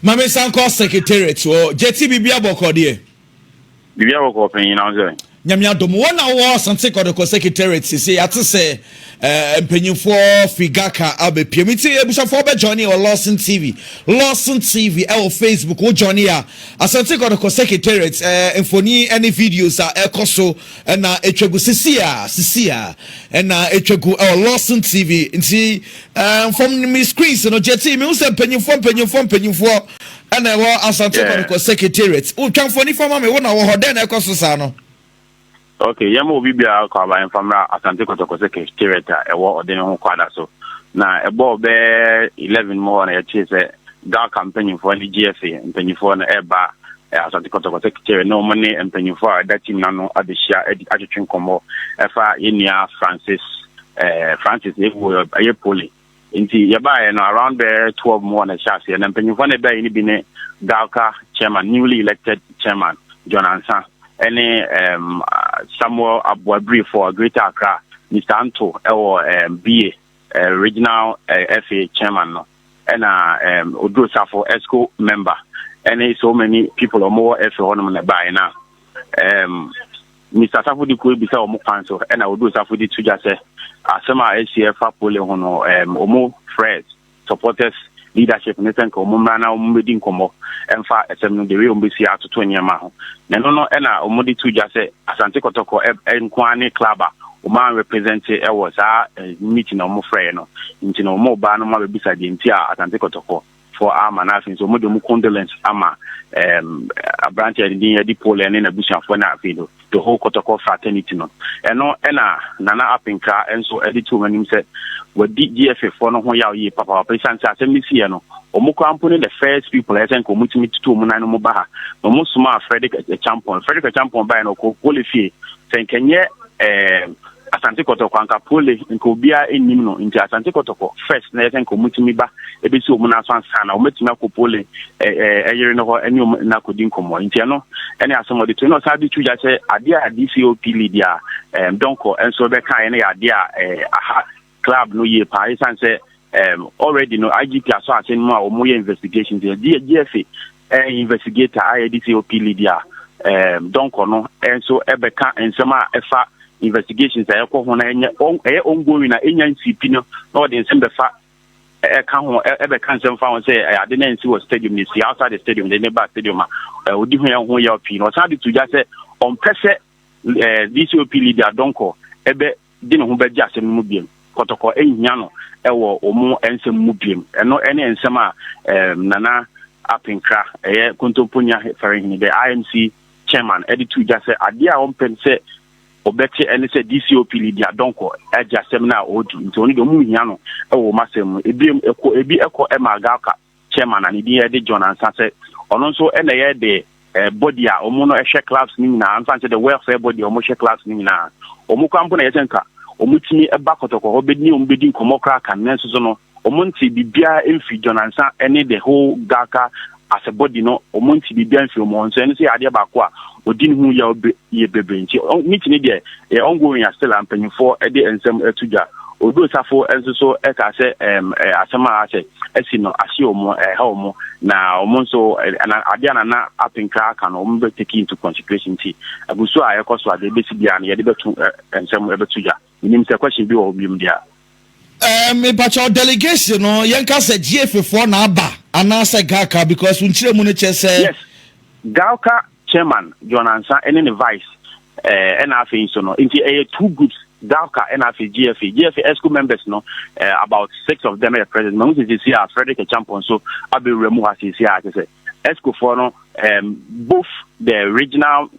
Ma me nsa nkɔ secretariat hɔ. Gyeti, biribiara bɔkɔ deɛ? Biribiara bɔkɔ panyin na sɛ. Nyame adom, wɔn na wɔwɔ Asante Kɔtɔkɔ secretariat sese. Yɛate sɛ eh, mpanyinfoɔ fi Gaka abɛpiam. Nti abusuafoɔ bɛ join wɔ Lawson TV. Lawson TV ɛwɔ Facebook. Wo join a Asante Kɔtɔkɔ secretariat eh, mfoni ne videos a ɛkɔ so ɛna ɛtwa gu sisi a sisi a ɛna ɛtwa gu ɛwɔ Lawson TV. Nti Ɛɛ from me screens no kyɛ tii mi n sɛ mpanyinfoɔ mpanyinfoɔ mpanyinfoɔ ɛna ɛwɔ Asante yeah. Kɔnekɔ secretariat o twa mfoni fa ma mi wo na wɔ hɔ dɛn na ɛkɔ so saa no. ok yɛn mo obi biara kɔ aba yɛn famra Asante Kɔtɔkɔ secretariat a ɛwɔ ɔde ne ho kɔ ada so na ɛbɔɔ bɛɛ eleven mu hɔ na yɛkyee sɛ gal mpanyinfoɔ ne GFA mpanyinfoɔ no ɛba Asante Kɔtɔkɔ Sekiteri ne wɔn ne mpanyinfoɔ a ɛda tim no ano abɛhyia adi atwetwe nkɔmmɔ ɛfa yɛn nua Francis eh, Francis Ewu ɛyɛ poli nti yɛbaeɛ no around bɛyɛ 12 mu hɔ na ɛhyɛ aseɛ na mpanyinfoɔ no ɛbɛɛ no bi ne Galka chairman newly elected chairman John Ansa ɛne um, Samuel Aboabiri for Greater Accra Mr. Anto ɛwɔ um, BA uh, regional uh, eh, FA chairman no ɛna um, oduro safo esco member ɛne so many people ɔmo wɔ ɛfɛ hɔnom na ɛbaeɛ na um, mr safo de kuo ebisa ɔmo kwan so ɛna oduro safo de to gya sɛ asɛm a ɛsi ɛfa pole ho no um, ɔmo frɛ supporters leadership ne sɛ nka ɔmo mmra na ɔmo bɛdi nkɔmmɔ ɛmfa ɛsɛm no de wei ɔmo bɛsi atoto nneɛma ho na ɛno no ɛna ɔmo de to gya sɛ asante kɔtɔkɔ ɛnkoa ne club a wɔn a represente wɔ saa meeting a wɔn frɛɛ no nti no wɔn ba no ma bɛbisa deɛ nti a Asante Kɔtɔkɔ foɔ ama no afei nso wɔn de wɔn condolence ama ɛɛm aberante a ɛdin yɛ di Paul ne n'abusuafoɔ na afei no the whole Kɔtɔkɔ fraternity no ɛno ɛna Nana Apenkra nso ɛde to wɔn anim sɛ wɔdi GFA foɔ no ho yaw yie papaapa esan sɛ asɛm no si yɛ no wɔn koraa mpo ne the first people ɛsɛ nka wɔn tumi tutu wɔn nan no mu ba ha na wɔn soma Frederick Achampon Frederick Achampon bae no ɔkɔ pole fie sɛ nkɛnyɛ eh, asante kɔtɔkɔ anka pole nka obiara nnim no nti asante kɔtɔkɔ first na yɛsɛ nka ɔmutumi ba ɛbɛsi ɔmu no aso ansa na ɔmatumi akɔ pole ɛyere no hɔ ɛne ɔmu no akɔdi nkɔmmɔ nti ɛno ɛne asɛm ɔde to na ɔsan de twigya sɛ adeɛ a dcop lead a dɔnkɔ nso bɛka ɛne yɛ adeɛ a aha club no yie paa ɛsiane sɛ um, already no IGP asɔ ase no mu a wɔyɛ investigation nti GFA ɛyɛ investigator a yɛde si OP lead a um, dɔnkɔ no nso ɛbɛka nsɛm a ɛfa investigations a ɛkɔ ho na ɛnyɛ ɛyɛ ongoing na ɛnya nsipi no na ɔde nsɛm bɛfa ɛka ho ɛbɛka nsɛm fa ho sɛ ade no nsi wɔ stadium no si outside the stadium de ne ba stadium a ɔdi ho yɛ ho yɛ pii na ɔsan de to gya sɛ ɔmpɛ sɛ dcop leader dɔnkɔ ɛbɛ de ne ho bɛgye asɛm no mu biom. Kɔtɔkɔ nhia no wɔ wɔn nsɛm mu biom. Ɛno ne nsɛm a Nana Apenkra, ɛyɛ Kontompo Nya Farinhini, the IMC chairman, de too gya sɛ adeɛ a wɔmpɛ sɛ wɔbɛte ne sɛ DCOP Lydia Donkor agye asɛm no a ɔredi nti ɔno deɛ wɔnhia no wɔ wɔn asɛm mu. Ebiom, ɛkɔ, ebi kɔ ma Agalka. chairman a ne din yɛ de John Ansah sɛ ɔno nso na ɛyɛ de eh, body a wɔn no ɛhwɛ clubs no nyinaa ansa nkyɛ de welfare body a wɔn hyɛ clubs no nyinaa wɔn kwan mpo na ɛyɛ sɛ nka wɔn tumi ba kɔtɔkɔ hɔ bɛdi wɔn bɛdi nkɔmɔ koraa kan nanso so no wɔn nti biribiara mfiri John Ansah ɛne the whole Gaka as a body no wɔn nti biribiara mfiri wɔn nso ɛno nso yɛ adeɛ baako a ɔdi ne ho yaw yɛ bebree nti meeting ne deɛ ɛyɛ ongoing a still a mpanyinfoɔ de nsɛm ato dwa Odo Safo nso so ɛka sɛ asɛm a asɛ asi no ahye wɔn, ɛha wɔn, na wɔn nso na adeɛ a nana apenkra aka no wɔn bɛ take into consideration nti agusu a ɛkɔ so a deɛ ebesi biara no yɛde bɛto nsɛm ɛbɛto dwa menim sɛ question bi wɔ hɔ biom deɛ. Ɛɛ mipakyɛw delegation no yɛn ka sɛ GFA foɔ na aba anaasɛ GALCA because nkyerɛ mu no kyɛ sɛ. Yes. Galka Chairman, John Ansah ɛne ne Vice eh, ɛna afei nso no, nti ɛyɛ two groups, Dalka ɛna afei GFA. GFA ESCO members no, eh, about six of them ɛyɛ president. Mahu sɛ sisi a Frederick Achampon nso abɛwura mu ha sisi a, kyɛ sɛ ESCO foɔ no, um, both the regional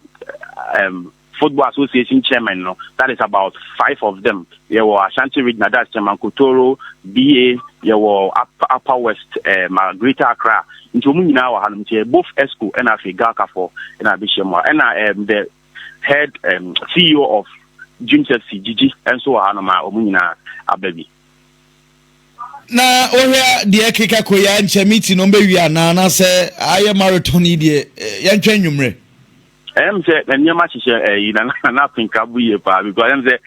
um, Football Association Chairman no, that is about five of them, yɛwɔ Ashanti Regional, that's Chairman Kotoro, BA, yɛwɔ Upper, Upper West, eh, ma Greater Accra, nti wɔn nyinaa wɔ hanom, nti both ESCO ɛna afei GALCAfoɔ ɛna abɛhyia mu a, ɛna um, the head um, CEO of Dreams FC, Gigi, nso wɔ hanom a wɔn nyinaa aba bi. na wohwɛ deɛ ɛkeka kɔ yɛ nkyɛ miti no mbɛwie anaa anaasɛ ayɛ marathon yi deɛ eh, yɛntwɛn nnwummerɛ Ɛyɛ mi sɛ na nneɛma hyehyɛ ɛyi na na na apenka bu yie paa because ɛyɛ mi sɛ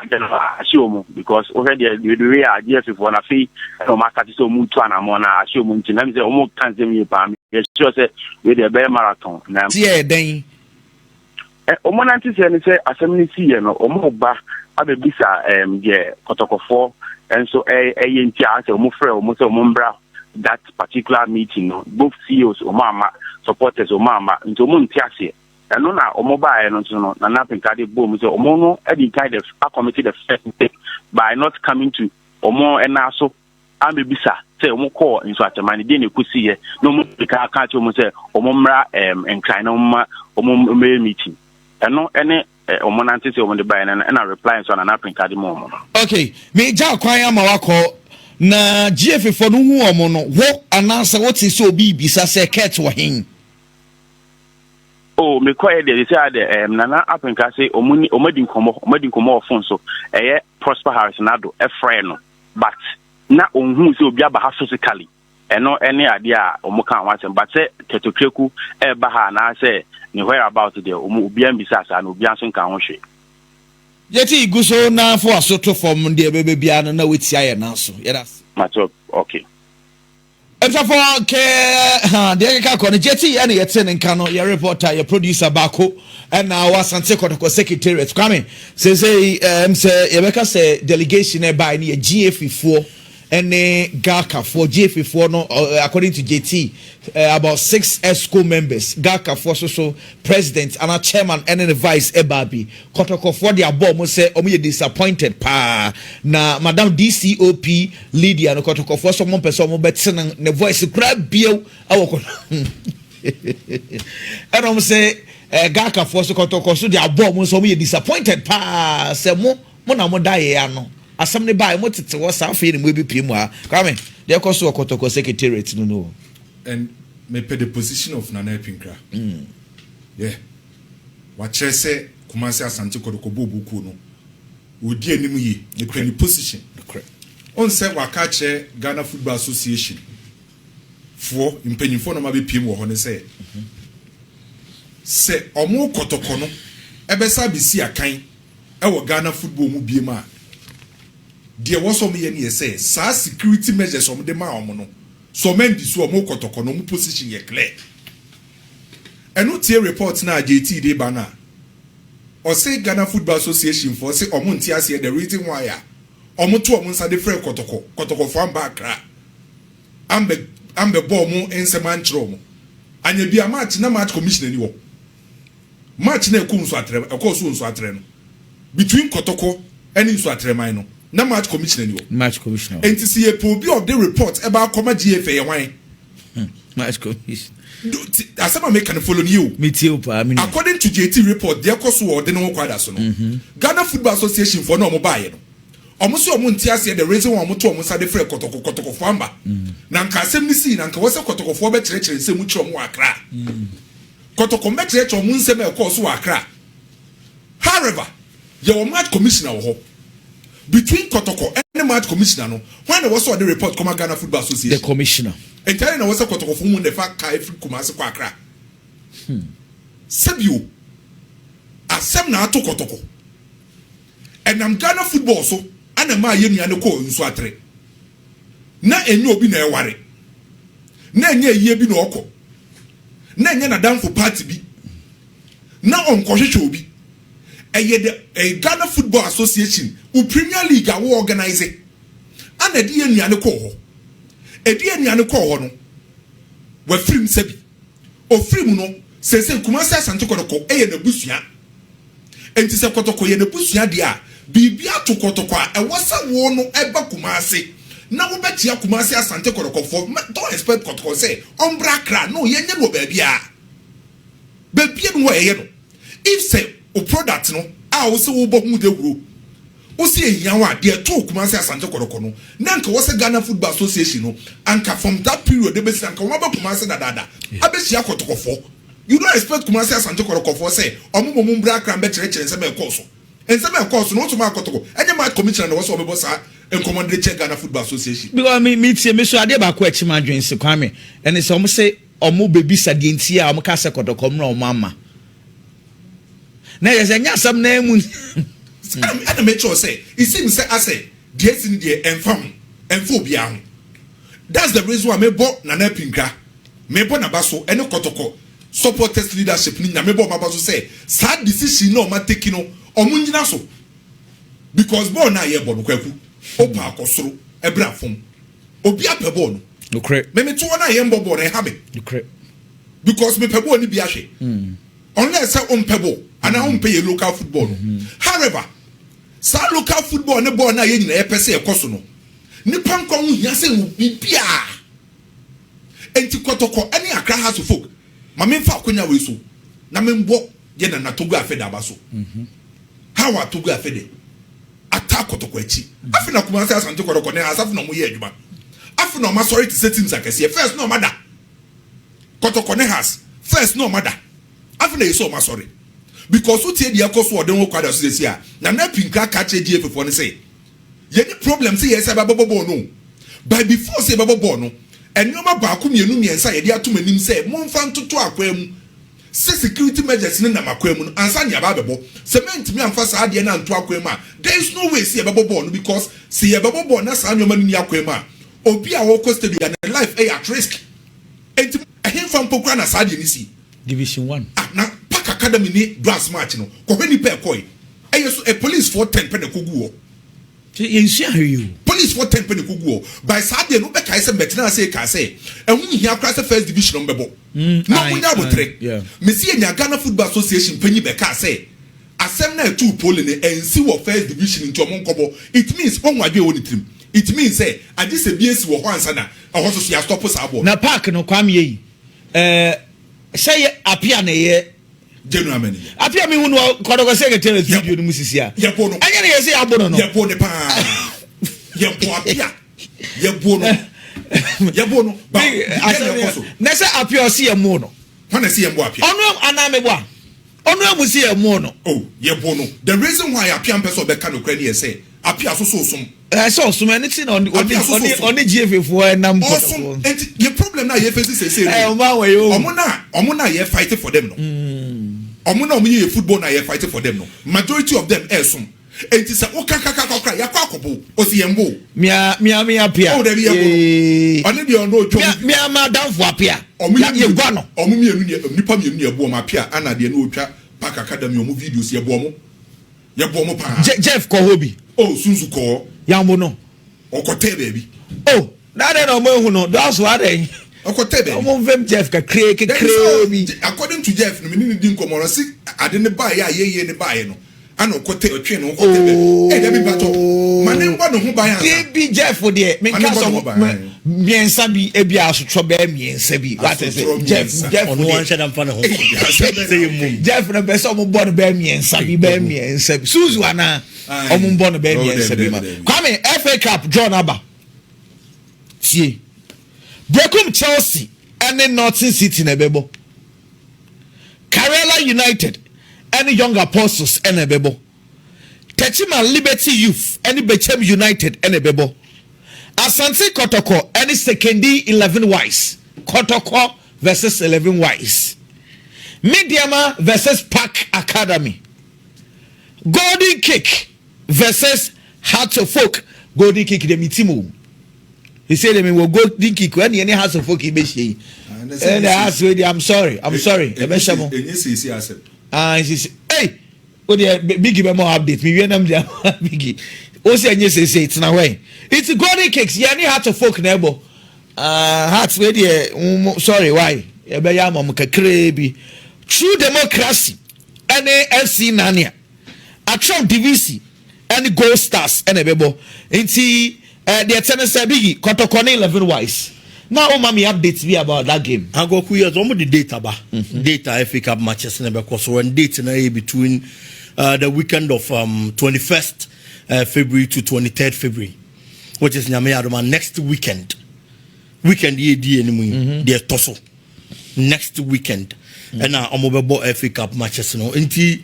adeɛ no ahyɛ wɔn because wohwɛ deɛ bebree a adeɛ fi fɔ na afei ɛna wɔn asate sɛ wɔn tu anamɔ na ahyɛ wɔn nti na ɛyɛ mi sɛ wɔn ka nsɛm yie paa mi yɛ sure sɛ wei deɛ ɛbɛyɛ marathon na. Ti ɛyɛ dɛn? Ɛ wɔn nante sɛ ne sɛ asɛm ne si yɛ no wɔn ba abɛbisa ɛm deɛ kɔtɔkɔfoɔ nso ɛyɛ ɛyɛ nti a asɛ wɔn frɛ wɔn sɛ wɔn mbra that particular meeting no both CEOs wɔn amma supporters wɔn amma nti wɔn nte aseɛ ɛno na wɔn baeɛ no nso no Nana Pinkade bɔɔ mu sɛ wɔn no adi kan the akɔmiti the first mistake by not coming to wɔn ɛna so amebisa sɛ wɔn kɔɔ nsuakyɛman no deɛ na ɛkɔsi yɛ na wɔn de ka ka kyerɛ wɔn sɛ wɔn mmra ɛm nkran na wɔn ma wɔn mmɛyɛ meeting ɛno ɛne Eh, wɔn nante sɛ wɔn de baeɛ no ɛna reply nso ana na printa de ma wɔn no. okay meegya akwan ama wakɔ na gyeefe fɔ no hu wɔn no wo anaasɛ wote sɛ obi bisa sɛ kurt wɔ hen. oh mekɔɛ deɛ sɛ a deɛ ɛm nana aprinka se wɔn ni wɔn adi nkɔmɔ wɔn adi nkɔmɔ wɔ phone so ɛyɛ prosper harris nado ɛfrɛ no but na ohun sɛ obi aba ha physically. Ɛno ne adeɛ a wɔn kaa ho asɛm but sɛ kɛtɔtwɛku ɛɛba ha anaa sɛ ne where about deɛ wɔn obiara mbisaa saa na obiara nso nkaa ho hwee. Yɛte gu so na foa so to fam deɛ ɛbɛba biara no na watia yɛn nan so. Yɛda ase. Mate ok. Abisafo kɛ ha deɛ ɛkeka kɔ no gyeti ɛna yɛte ne nka no yɛ reporter yɛ producer baako ɛna wɔ Asante Kɔtɔkɔ Secretariat Kwame sɛsɛyi ɛm sɛ yɛbɛka sɛ delegation ɛbae no yɛ GAFI foɔ ɛne Garka foɔ Gyeefe foɔ no according to Gyetee about six Exco members Garka foɔ so so president anaa chairman ɛne ne vice ɛbaa bi Kɔtɔkɔ foɔ de abɔ ɔmo sɛ ɔmo yɛ disappointed paa na madam DCOP Lydia no Kɔtɔkɔ foɔ so ɔmo mpɛ sɛ ɔmo bɛte no ne voice koraa biew ɛwɔ kɔtɔ ɛna ɔmo sɛ Garka foɔ so Kɔtɔkɔ so de abɔ ɔmo sɛ ɔmo yɛ disappointed paa sɛ mo Mo na mo da yɛ ano. Asɛm no baeɛ, mo tete hɔ saa afei na mo abipue mu aa. Kwame, deɛ ɛkɔ so wɔ Kɔtɔkɔ Secretariat no no o. And me pɛ the position of Nana Apinkra. Yeah. Wakyerɛ sɛ Kumasi Asante Kɔtɔkɔ Booboo kuo no, ɔredi anim yie. Me pɛ ne position. Nokorɛ. Wohu sɛ waka akyerɛ Ghana Football Association foɔ mpanyinfoɔ na wɔn abɛpue mu wɔ hɔ no sɛ, sɛ wɔn Kɔtɔkɔ no bɛsan abɛsi akan, wɔ Ghana football mu biom a, deɛ ɛwɔ sɛ wɔyɛ ne yɛ sɛ, saa security measures wɔde maa wɔn no, sɛ wɔn andi so a, wɔn kɔtɔkɔ na wɔn position yɛ clear. Ɛno tie report no a JT de ba no a, ɔse Ghana football association foɔ se wɔn nte aseɛ the reason why a wɔn to wɔn nsa de frɛɛ kɔtɔkɔ, kɔtɔkɔ foɔ amba Accra, ambɛ, ambɛ bɔ wɔn nsɛm ankyerɛ wɔn, anyɛ bi a match na match commissioner ni hɔ. March na ɛkɔ nsu atrɛ ɛkɔɔ so wɔ nsu atrɛ no between Kɔtɔkɔ ɛne nsu atrɛ man no na March commissioner ni hɔ. March commissioner hɔ. Nti si yɛ pɛ obi a ɔde report ɛba akɔma GA fɛ yɛ hwan? Hmm, March commissioner. Do, ti, asɛm a meka no follow ni yɛ o. Mi tie o paa, mi nua. According to JT report deɛ ɛkɔ so wɔ ɔde ne ho kɔ ada so no, mm -hmm. Ghana Football Association foɔ na ɔmo baayɛ no. Ɔmo se ɔmo nte aseɛ the reason why ɔmo to ɔmo nsa de frɛ Kɔtɔkɔ Kɔtɔkɔfoɔ amba. Mm. Na nka asɛm no sii na nka wɔ sɛ Kɔtɔkɔfoɔ bɛkyerɛkyerɛ nsɛm mu kyerɛ ɔmo wɔ Accra. Mm. Kotoko mmɛkyerɛkyerɛ wɔn nsɛm a ɛkɔɔ so wɔ Accra. However, yɛwɔ Mart Commissioner wɔ hɔ. Between Kotoko ne Mart Commissioner no, hwan na ɛwɔ sɛ ɔde report kɔma Ghana Football Association? The Commissioner. Enti adɛn na ɛwɔ sɛ Kotokofo mu na ɛfa car firi Kumasi kɔ Accra? Hmm. Sɛbio, asɛm na ato Kotoko. Ɛnam Ghana football so na ɛmaa yɛn nua no kɔɔ nsuatere. Na ɛnyɛ obi na ɛware. Na ɛnyɛ ayie bi na ɔkɔ. na ɛnyɛ n'adamfo party bi na ɔnkɔhwehwɛ obi. Ɛyɛ the ɛyɛ Ghana Football Association wo Premier League a wo organise ana ɛde yɛn nnuane kɔɔ hɔ. Ɛde yɛn nnuane kɔɔ hɔ no wafiri mu sɛbi ɔfiri mu no seesei Kumasi Asante Kɔtɔkɔ ɛyɛ n'abusua. Enti sɛ kɔtɔkɔ yɛ n'abusua dea a, biribi ato kɔtɔkɔ a, ɛwɔ sɛ wo no ba Kumasi na wobɛkyea Kumasi Asante kɔtɔkɔfoɔ. Mɛ don't expect kɔtɔkɔ sɛ ɔmbra Accra. No, yɛnyɛ no wɔ baabiara. Baabiara ni hɔ a yɛyɛ no. If sɛ wo product no a wo se wobɔ ho dawuro, wo se ɛhia wo a, deɛ ɛtoo Kumasi Asante kɔtɔkɔ no, na anka ɛwɔ sɛ Ghana Football Association no, anka from that period de bɛsi nnɛ, anka wɔn abɛ Kumasi dadaada abɛhyia kɔtɔkɔfoɔ. You don't expect Kumasi Asante Kɔtɔkɔfoɔ sɛ ɔmo mmɔ mu mbra Accra mbɛkyerɛkyerɛ nsɛm a ɛkɔɔ so. Nsɛm a ɛkɔɔ so no Ɔsom Akoto ɛnyɛ match commissioner na ɛwɔ sɛ ɔbɛbɔ saa nkɔmɔ no de kyerɛ Ghana Football Association. Because me me tie me so adeɛ baako a ɛkye me adwene se Kwame ɛne sɛ ɔmo se ɔmo bɛ bisa deɛ nti a ɔmo kaa sɛ Kɔtɔkɔ mmra ɔmo amma na ɛyɛ sɛ ɛnyɛ asɛm no ara mu ni. Saa na ɛna me kyerɛw sɛ it seems sɛ asɛ deɛ asi no deɛ ɛnfa ho ɛnfa obiara ho. That's the reason why me bɔ Nana Apinka, me bɔ naba so ɛne Kɔtɔkɔ supporters leadership no nyina me bɔ ɔmo aba so sɛ saa decision no a ɔmo ateki no ɔmo nyina so because bɔɔl no a yɛbɔ no Kwaku o paa kɔ soro ɛbra fɔm obi apɛ bɔɔl no Nokorɛ. me me toɔ no a yɛn bɔ bɔɔl no ɛha me Nokorɛ. because me pɛ bɔɔl no bi ahwɛ unless sɛ ɔmpɛ bɔɔl anaa ɔmpɛ yɛn local football no however saa local football ne bɔɔl no a yɛn nyina yɛpɛ sɛ ɛkɔ so no Nnipa nkwa ho hia sen biribiara. Enti Kɔtɔkɔ ne Accra House of Folk, ma memfa akwannya wei so na memmɔ yɛn nana Togo Afede aba so. How are Togo Afede ataa Kɔtɔkɔ akyi? Afei na Kumasi, Asante Kɔtɔkɔ ne Asafo na wɔyɛ adwuma. Afei na wɔasɔre te sɛ teams akɛseɛ. First na wɔada. Kɔtɔkɔ ne Has, first na wɔada. Afei na ɛyɛ sɛ wɔasɔre. Because wotie deɛ ɛkɔ so wɔ Denho Quadra so seesei a, Nana Appinkra ka kyerɛ GFAfoɔ no sɛ, Yɛnni problem sɛ yɛn nsa bɛbɔ bɔɔl no o, but before sɛ yɛbɛbɔ bɔɔl no, nneɛma baako mmienu mmiɛnsa a yɛde ato mo anim sɛ momfa ntoto akwaa mu sɛ security measures no nam akwaa mu no ansa na yɛaba abɛbɔ. Sɛ moantumi amfa saa adeɛ no anto akwaa mu a, there is no way sɛ yɛbɛbɔ bɔɔl no because sɛ yɛbɛbɔ bɔɔl na saa nneɛma no nni akwaa mu a, obi a ɔrekɔ stadium biara ne life yɛ at risk. Enti ɛhefa mpo koraa na saa adeɛ no si? Division One. Ah na Park Academy ne Dwars match no kɔ hɔ nipa ɛkɔe ɛyɛ so ɛ police foɔ ten pɛ na ɛkɔgu hɔ. Sɛ yɛnsua hwee o. Police foɔ ten pɛ na ɛkɔgu hɔ. By saa deɛ no wobɛkae sɛ mɛtena ase ɛkaa sɛ ɛho nhia koraa sɛ First Division ɔmo bɛbɔ na ɔmo nyɛ aboterɛ. Mese yɛnya Ghana Football Association panyin bɛ kaa sɛ asɛm no a ɛtoo Pole no ɛnsi wɔ First Division nti ɔmo nkɔbɔ. It means wahu adwene a ɛwɔ ne tirim. It means sɛ agye sɛ bi asi wɔ hɔ ansa na ɛhɔ nso so yɛastɔpo saa bɔɔl no. Na Park no Kwame Eyi Eh, sɛ yɛ apia na yɛ general mani yɛ apia mi hu no kɔdɔkɔ sɛ kɛtɛ video no mu sisi a yɛ bo no ɛnyɛ ne yɛ sɛ yɛ bo no no yɛ bo ne paa yɛ bo apia yɛ bo no yɛ bo no ba na sɛ apia ɔsi yɛ mo no hɔn na si yɛ mo apia ɔno anaa mi bo a ɔno amu si yɛ mo no oh yɛ bo no the reason why apia mpɛ sɛ ɔbɛka no kura ne yɛ sɛ apia soso som ɛsɛ ɔsom ɛne ti na ɔne gfa foɔ ɛnam kɔtɔkɔ nti yɛ problem na yɛ fesi sese no ɔmo na ɔmo na yɛ fight for them no ɔmo mm. na ɔmo yɛ yɛ football na yɛ fight for them no majority of them ɛsom nti sɛ woka kakaka kora yɛakɔ akɔbo ɔsi yɛn bo mia mia mia pia ɔwɔ dɛbi yɛ bo ɔne deɛ ɔno otwa mia mia ma danfo apia ɔmo yɛ gua no ɔmo mienu nipa mienu ni ɛbo ɔmo apia ana deɛ no otwa pakaka dɛm yɛ ɔmo videos yɛ bo ɔmo. Yɛ boɔ mo paa. Je Jeff kɔ hɔ bi. Oh Sunsu kɔɔ. Yambo no. Ɔkɔ tɛɛ baabi. Oh na adɛn na ɔmo ehu no dɔɔso adɛn. Ɔkɔ tɛɛ baabi. Ɔmo nfem Jeff kakraa kekraa bi. According to Jeff no me ne no di nkɔmɔ no ɔse ade no baa yɛ a yɛ yɛ no baa yɛ no ɛna ɔkɔ tɛɛ ɔtwee ne ho kɔ tɛɛ baabi. Ee Dabi mpatɔ ma ne mbɔ ne ho ban ansa. Dabi Jeff deɛ me nka sɛ ɔmo. Mmiɛnsa bi ebi asotwɔ bɛyɛ mmiɛnsa bi wate sɛ jeff jeff ɔno anhyɛ da nfa ne ho sɛ yɛ mum jeff na bɛsɛ ɔmo bɔ no bɛyɛ mmiɛnsa bi bɛyɛ mmiɛnsa bi suzu ana ɔmo bɔ no bɛyɛ mmiɛnsa bi ma kwame fa cup john aba tie brekum chelsea ɛne norton city na ɛbɛbɔ karela united ɛne young apostles ɛna ɛbɛbɔ. Techiman Liberty Youth ne Bechem United na ɛbɛbɔ. Asante Kɔtɔkɔ ne Sekondi Eleven Wise, Kɔtɔkɔ vs Eleven Wise. Medeama vs Park Academy. Golden Kick vs Hearts of Oak, Golden Kick deɛ metim o. Ɛsɛ deɛ mewɔ Golden Kick ɛne ɛne Hearts of Oak yi bɛhyia yi. Ɛne Hearts wei deɛ I'm sorry, I'm sorry, ɛbɛhyɛ mo. Ɛnyɛ siesie asɛm. Ah, siesie. Hey! Wo deɛ Biggie bɛma wo update me wie na mede ama Biggie wo sɛ ɛnyɛ seesei tena hɔ ɛ it's golden cakes yɛ ne heart of folk na ɛbɔ uh, heart wei deɛ um, sorry why yɛbɛyɛ ama mo kakraa bi true democracy ɛne fc nania atrɛw divisi ɛne gold stars ɛna ɛbɛbɔ nti Eh deɛ ɛteɛ ne sɛ Biggie, Kɔtɔkɔ ne Eleven Wise na woma me updates bi about that game. Agwaku yes wɔn de date aba date a FA cup matches na ɛbɛkɔ so and date na ɛyɛ between uh, the weekend of um, 21st uh, February to 23rd February which is nyame adoma next weekend weekend yɛ di yɛ ne mu yi deɛ ɛtɔ so. next weekend ɛna mm. wɔn bɛbɔ fa cup matches no nti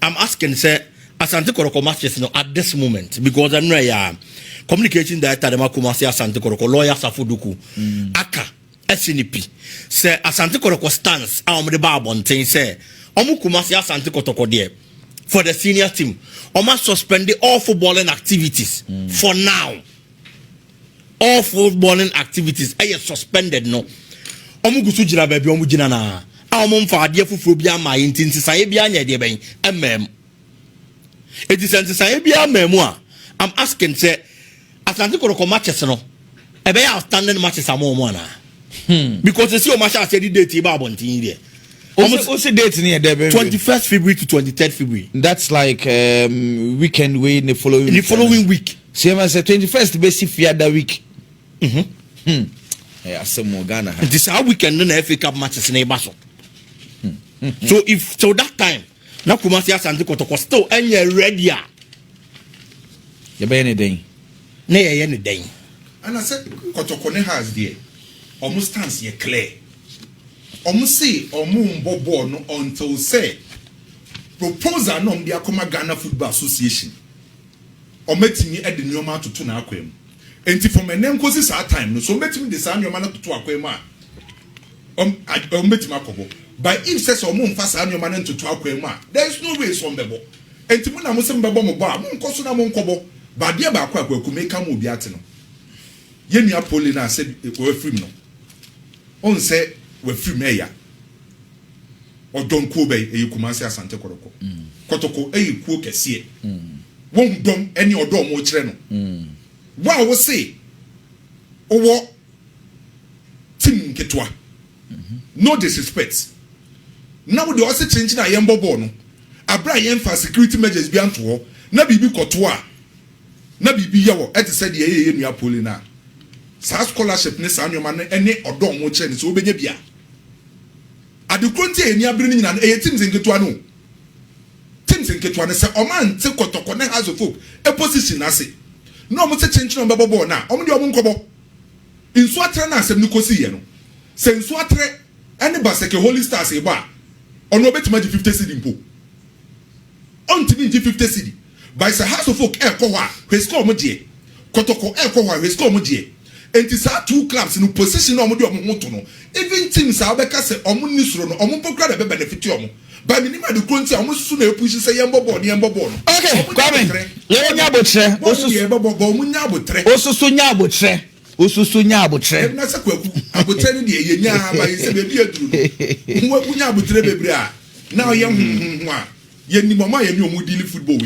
i'm asking sɛ asante kɔrɔkɔ matches no at this moment because ɛno ɛyɛ a communication director dɛm akoma se asante kɔrɔkɔ lawyer safo duku mm. aka ɛsi ne pi sɛ asante kɔrɔkɔ stance a wɔn de ba abɔnten sɛ wɔn kuma se asante kɔtɔkɔ deɛ for the senior team wɔn a suspend all footballing activities mm. for now. all full morning activities ɛyɛ suspended no wɔn gu so gyina baabi wɔn gyina na a wɔn mfa adeɛ foforɔ bi ama yɛ nti nsesaeɛ bi anyɛ deɛ bɛn ɛmmaa mu eti sɛ nsesaeɛ bi ama mu a i'm asking sɛ asante kɔrɔkɔ matches no ɛbɛyɛ outstanding matches ama wɔn anaa hmm. because esi wɔn ahyɛ aseɛ de date ba abɔnten yi deɛ. Almost, what's the date near there? 21st February to 23rd February. That's like um, weekend way the following the weekend. following week. Sɛ yɛma sɛ twenty first bɛsi fiada week mhm hmm ɛyɛ asɛm wɔ Ghana ha. Nti saa weekend no na FA Cup matches na ɛba so. Hmm, hmm, hmm. So if till that time na Kumasi Asante Kɔtɔkɔ still ɛnyɛ ready a. Yɛbɛyɛ ne dɛn? Na yɛyɛ ne dɛn? Ana sɛ Kɔtɔkɔ ne Hearts deɛ ɔmo stance yɛ clear. Ɔmo se ɔmo mbɔ bɔɔl no until sɛ proposal na ɔmo de akɔma Ghana Football Association. Wɔatumi de nneɛma atoto n'akwan mu. Enti from ɛnnɛ nkosi saa time no, so wɔbɛtumi de saa nneɛma no atoto akwan mu a, wɔn wɔbɛtumi akɔ hɔ. But if sɛ sɛ wɔmfa saa nneɛma no ntoto akwan mu a, there is no way sɛ wɔbɛbɔ. Enti mo na mo se mobɛbɔ mo bɔ a, monkɔ so na monkɔbɔ. But adeɛ baako a Kwaku meka ma obi ate no, yɛn nua Pole no a sɛ wɔafirim no, wohu sɛ wɔafirim ɛya. Ɔdɔm kuo bɛn? Ɛyɛ Kumase Asante Kɔrɔkɔ Kɔtɔkɔ yɛ kuo kɛseɛ Wahu dɔm ne ɔdɔ a ɔmo kyerɛ no Wo a wo se wowɔ team nketewa No disrespect Na wo deɛ ɔse kyenkyen a yɛnbɔ bɔɔl no Aberɛ a yɛnfaa security measures bi anto hɔ Na biribi kɔto a na biribi yɛ wɔ Ɛte sɛ deɛ ɛyɛ yɛn nua Pauline a Saa scholarship ne saa nnoɔma no ne ɔdɔ a ɔmo kyerɛ no sɛ wobɛnya bi a Ade koro nti a yɛn ani abere no nyinaa no, ɛyɛ teams nketewa no o. Teams nketewa no, sɛ wɔante Kɔtɔkɔ ne Hearts of Oak position no ase na wɔsɛ kyenkyen a wɔbɛbɔ bɔɔl no a, wɔn deɛ wɔnkɔbɔ. Nsuo Aterɛ no a asɛm no kɔsiiɛ no, sɛ Nsuo Aterɛ ne Baseke Holy Stars rebɔ a, ɔno ɔbɛtumi agye fifty cedi mpo. Ɔntumi ngye fifty cedi by sɛ house of folk ɛɛkɔ hɔ a hwɛ sika ɔmo gyeɛ, kɔtɔkɔ ɛɛkɔ hɔ a hwɛ sika ɔmo gyeɛ. Nti saa two clubs no position a ɔmo de ɔmo ho to no even teams a wobɛka sɛ ɔmo nni soro no ɔmo mpo koraa na ɛbɛ benefit ɔmo but menim ade korɔ nti a ɔmo susu na ɛpushi sɛ yɛnbɔ bɔɔl no yɛnbɔ bɔɔl no. Okay Kwame, yɛrenya abotrɛ, osusu nya abotrɛ. Wosu so nya aboterɛ. Ɛbi na sɛ kwaku aboterɛ no deɛ yɛ nyaa ba yɛ sɛ baabi aduru no ho waku nya aboterɛ bebree a na ɔyɛ ho ho ho a yɛnim ɔmo a yɛne ɔmo di ne football wɔ yɛ.